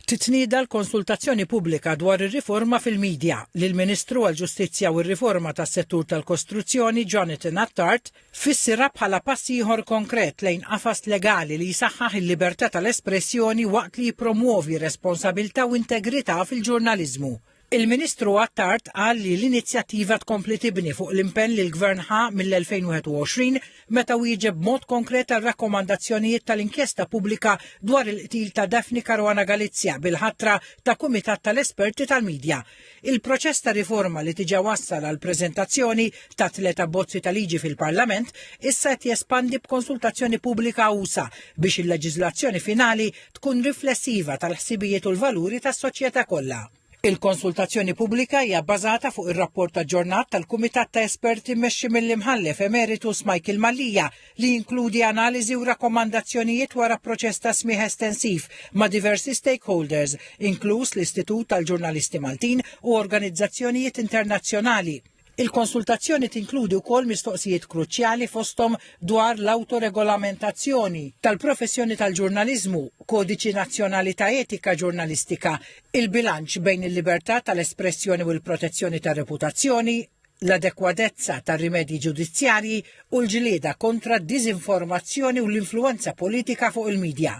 Titnieda l-konsultazzjoni pubblika dwar ir-riforma fil-midja, li l-Ministru għall-Ġustizzja u r-Riforma tas-Settur tal-Kostruzzjoni Jonathan Attard fissirha bħala pass ieħor konkret lejn qafas legali li jsaħħaħ il-libertà tal-espressjoni waqt li jippromwovi responsabilità u integrità fil-ġurnaliżmu. Il-Ministru Attard qal li l-inizjattiva tkompli tibni fuq l-impenn li l-Gvern ħa mill-2021 meta wieġeb b'mod konkret għar-rakkomandazzjonijiet tal-inkjesta pubblika dwar il-qtil ta' Daphne Caruana Galizia bil-ħatra ta' kumitat tal-esperti tal-midja. Il-proċess ta' riforma li diġà wassal għall-preżentazzjoni ta' tliet abbozzi ta' liġi fil-Parlament issa qed jespandi b'konsultazzjoni pubblika usa' biex il-leġiżlazzjoni finali tkun riflessiva tal-ħsibijiet u l-valuri tas-soċjetà kollha. Il-konsultazzjoni pubblika hija bbażata fuq ir-rapport aġġornat tal-Kumitat ta' Esperti mmexxi mill-Imħallef Emeritus Michael Mallia, li jinkludi analiżi u rakkomandazzjonijiet wara proċess ta' smigħ estensiv ma' diversi stakeholders, inkluż l-Istitut tal-Ġurnalisti Maltin u organizzazzjonijiet internazzjonali. Il-konsultazzjoni tinkludi wkoll mistoqsijiet kruċjali fosthom dwar l-awtoregolamentazzjoni tal-professjoni tal-ġurnaliżmu, kodiċi nazzjonali ta' etika ġurnalistika, il-bilanċ bejn il-libertà tal-espressjoni u l-protezzjoni tar-reputazzjoni, l-adegwadezza tar-rimedji ġudizzjarji u l-ġlieda kontra d-diżinformazzjoni u l-influwenza politika fuq il-midja.